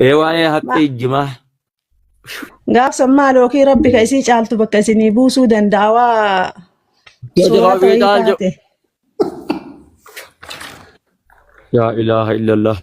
Ee waa'ee haphee ijjimaa. Gaafsan maal yookiin rabbi ka isii caaltu bakka isinii buusuu danda'a waa Yoo suuraa jawaabii ta'ii taal jedhu. taate. Yaa ilaaha illallah.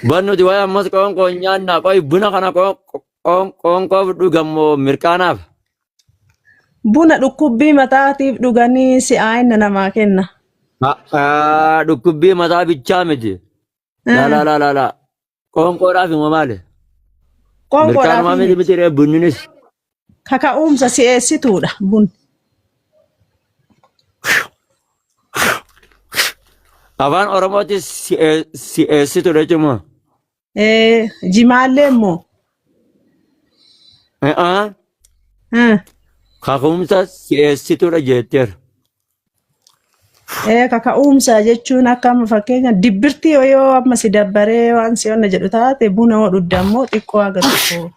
Ban nuti waa'ee ammas qoonqoo hin nyaannaa. Qoy buna kana qoonqoo fudhu gammoo mirqaanaaf. Buna dhukkubbii mataatiif dhuganii si'aa'ina namaa kenna. Haa dhukkubbii mataa bichaa miti. Laa laa laa laa laa. Qoonqoodhaaf immoo maali? Qoonqoodhaaf Mirkaanumaa miti miti ree bunninis. kaka'umsa si'eessituudha bun. Afaan Oromootis si'eessituudha jechuun moo? Eh, Jimaallee immoo. A'aa Hmm. kaka'umsa si'eessituudha jetteera. Eh, kaka'umsa jechuun akka amma fakkeenya dibbirtii yoo yoo amma si dabbaree waan si onna jedhu taate buna yoo dhugde ammoo xiqqoo haga tokko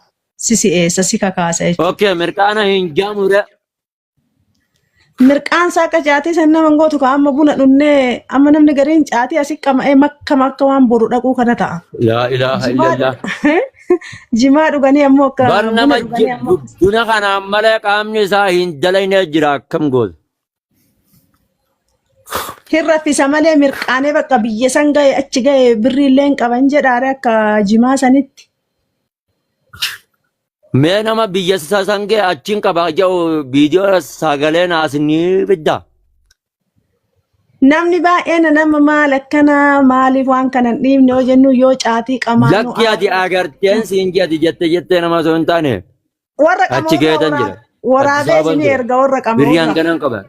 si si'eessa si kakaasa jechuudha. Okay, mirqaana hin jaamure. Mirqaan isaa akka caatii san nama hin gootu ka amma buna dhunnee amma namni gariin caatii asi qama'ee makkama akka waan boru dhaquu kana ta'a. Laa ilaaha Jimaa illallah. dhu- jimaa dhuganii ammoo akka Bar buna nama dhuganii ji- ammoo bu- buna kanaan malee qaamni isaa hin dalagne jira akkam gootu. hin raffisa malee mirqaanee bakka biyya san ga'e achi ga'e birrii illee hin qaban jedhaare akka jimaa sanitti. Mee nama biyya sa- sangee achiin qaba jedhu viidiyoo sagalee naas ni fidda. Namni baay'een nama maal akkana maaliif waan kana hin dhiibne yoo jennu yoo caatii qamaanu Lakki ati agarteen siin jedhi jette jettee nama osoo hin taane warra achi qamoorraa keetan jira. waraabee Addis Ababan isinii jira. erga warra Birrii qamoorraa. hanganan qaba.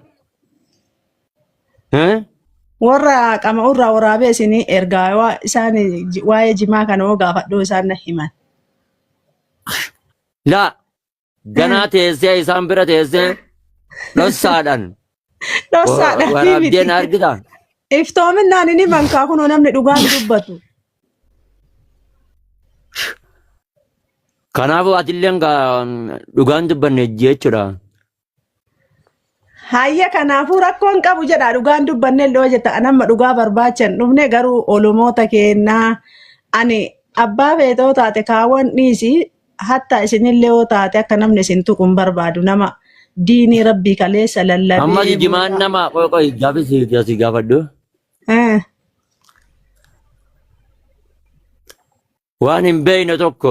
Eh? Warra qama'uu irraa waraabee isinii ergaa waa isaan ji- waa'ee jimaa kana hoo gaafadhuu isaan na himan. Laa ganaa teessee isaan bira teessee dhossaadhaan Dhossaadha ni waraabdee na miti. argita. Iftoominaan hin himan kaa kunoo namni dhugaan dubbatu. Kanaafuu atilleen gaa dhugaan dubbanne jechuudha. Hayya kanaafuu rakkoon qabu jedha dhugaan dubbanne illee hojjeta anamma dhugaa barbaachan dhufne garuu olomoota keennaa ani abbaa feetoo taate kaawwan dhiisi hatta isinillee yoo taate akka namni isin tuqun barbaadu nama diinii rabbii kaleessa Amma lallabee jijimaan booda. nama qoy qoy gaafi si si gaafadhu. Eh, Waan hin beekne tokko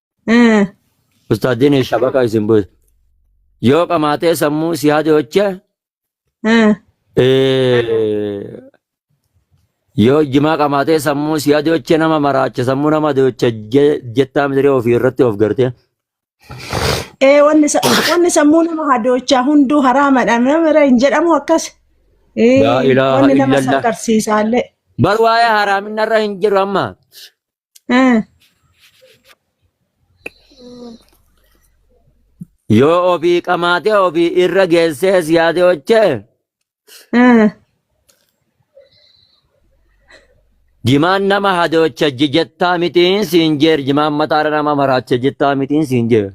Eh, Ustaadini shabaka isin bu'e. Yoo qamaatee sammuu si hadoche eh. yoo jimaa qamaatee sammuu si hadoche nama maraacha sammuu nama hadoche jettaa midiree ofii irratti of garte. Eh, wanni sa- wanni sammuu nama hadoochaa hunduu haraamadha. Namira hin jedhamu akkas. Eh, Laa ilaaha wanni nama illallah. sakarsiisaallee. Bar waa'ee haraaminarra hin jiru amma. Eh, Yoo ofii qamaatee ofii irra geessees yaade hojjee eh, jimaan nama hadoocha jettaa mitiin siin jeer jimaan mataara nama maraacha jettaa mitiin siin jeer.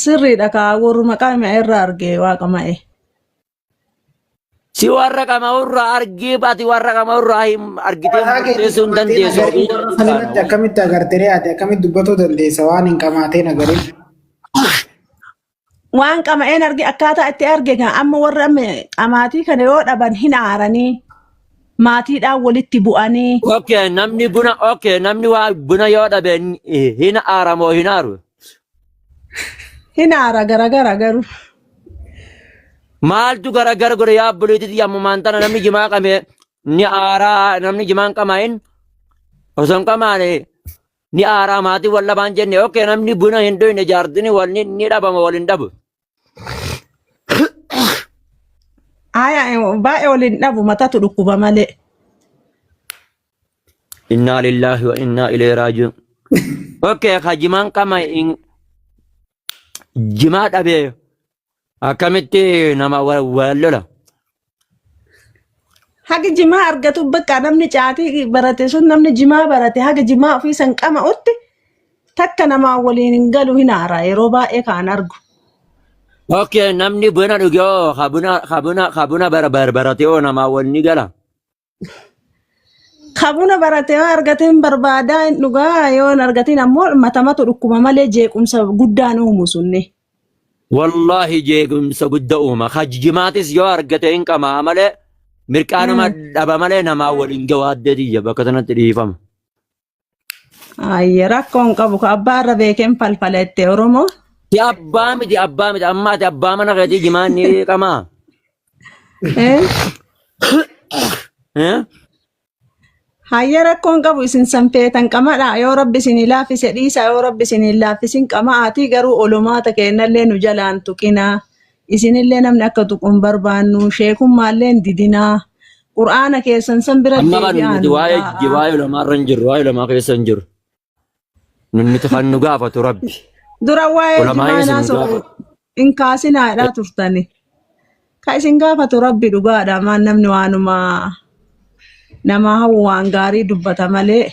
Sirriidha kaa warruma qaama irra arge waaqa ma'e. Si warra qama'urraa argii ati warra qama'urraa hin argitee Mataa keetii murteessuu hin qabaatee dandeessu. nagarii Ofii warra kan irratti akkamitti agartee ati akkamitti dubbatuu dandeessa waan hin qamaatee nagarii. Waan qama'een arge akkaataa itti arge kan amma warra amma qamaatii kana yoo dhaban hin aaranii maatiidhaan walitti bu'anii Okay, namni buna okay, namni waa buna yoo dhabe hin aaramoo hin aaru. Hin aara garagara garuu. Maaltu garagara godhe yaa obboleettii yammumaan tana namni jimaa qame ni aaraa namni jimaan qamaa'in osoo hin qamaane ni aaraa maatii wal dhabaan jenne ok namni buna hin dhuyne jaartini wal ni ni dhabama wal hin dhabu. Aya baay'ee ol hin dhabu matatu dhukkuba malee. Innaa lillaahi wa innaa ilee raajiun. Okkee ka jimaan qama hin jimaa dhabee akkamitti nama wal wal lola. Haga jimaa argatu bakka namni caatii barate sun namni jimaa barate haga jimaa ofii san qama'utti takka namaa waliin hin galu hin aara yeroo baay'ee kaan argu. Okay, namni buna dhugee hoo ka buna ka buna ka buna bara bara baratee hoo namaa wal ni gala. Kabuna baratee waan argatee hin barbaadaa hin dhugaa yoo hin argatiin ammoo matamatu dhukkuba malee jeequmsa guddaan uumu sunni. Wallaahi jeequmsa guddaa uuma. Hajjimaatis yoo argate hin qamaa malee mirqaanuma dhaba malee namaa waliin gawaa addeetiyya bakka sanatti dhiifama. Ayye rakkoo hin qabu. Ka abbaa irra beekeen falfala itti Oromoo. Si abbaa miti abbaa miti amma ati abbaa mana keetii jimaan ni qamaa. Eh? Eh? Hayya rakkoo hin qabu isin sanfeetan qamadha yoo rabbi isin laaffise dhiisa yoo rabbi isin hin laaffisin qama'aatii garuu olomaata keennallee nu jalaan tuqinaa isinillee namni akka tuqu hin barbaannu sheekummaallee hin didinaa qur'aana keessan san bira Amma kan deebi'aa nuti nuu waa'ee taa'a. jibaa ulamaa irra hin jirru, waa'ee ulamaa keessa hin jirru. Nun nuti kan nu gaafatu rabbi. dura waa'ee Ulamaa jimaa isin naasoo gaafatu. hin kaasinaadhaa turtani ka isin gaafatu rabbi dhugaadha maan namni waanuma namaa hawwu waan gaarii dubbata malee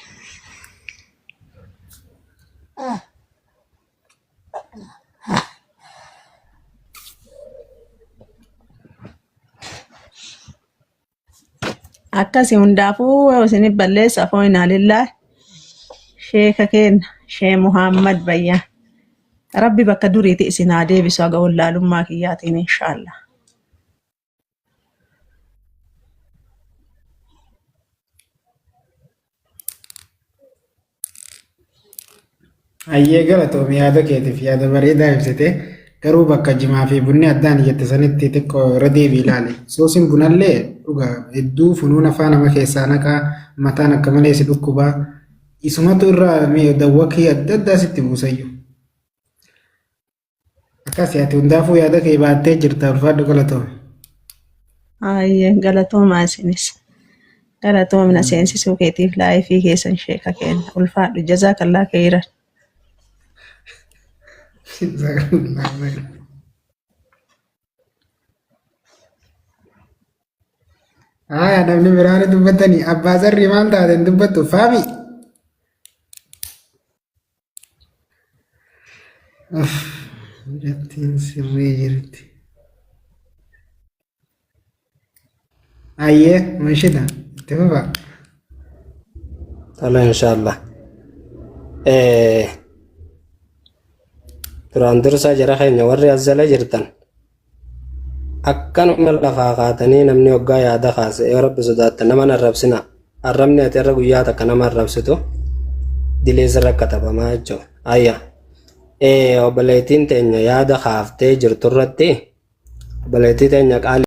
akkasi hundaafuu isinif balleessa afoo inaalillaa sheeka keenna shee muhammad bayyaa rabbi bakka duriiti isin haa deebisu haga wallaalummaa kiyyaatiin inshaallah Hayyee galatoomi yaada keetiif yaada bareedaa ibsite garuu bakka jimaa fi bunni addaan jette sanitti xiqqoo irra deebii ilaali. Suusiin bunallee dhugaa hedduu funuun afaan nama keessaa naqaa mataan akka malee si dhukkubaa isumatu irraa dawwakii adda addaa sitti buusayyu. Akkasi ati hundaafuu yaada kee baattee jirta ulfaadhu galatoome. Ayyee galatoomaa isinis. Galatoomina seensisuu keetiif laayifii keessan sheeka keenya. Ulfaadhu jazaa kallaa keeyran. Haa namni biraan dubbatanii abbaa zarrii maal taateen dubbattu faami. Mucattiin sirrii jirti. Ayyee munshida itti fufa. Tala inshallah. Eh, duraan dursaa jara keenya warri as jala jirtan Akkanuma lafaa kaatanii namni hoggaa yaada kaase yoo rabbi sodaattan nama hin arrabsina arrabni ati irra guyyaa takka nama arrabsitu dilee sirra katabamaa jechuudha. Ayya ee obboleettiin teenya yaada kaaftee jirtu irratti obboleettii teenya qaali.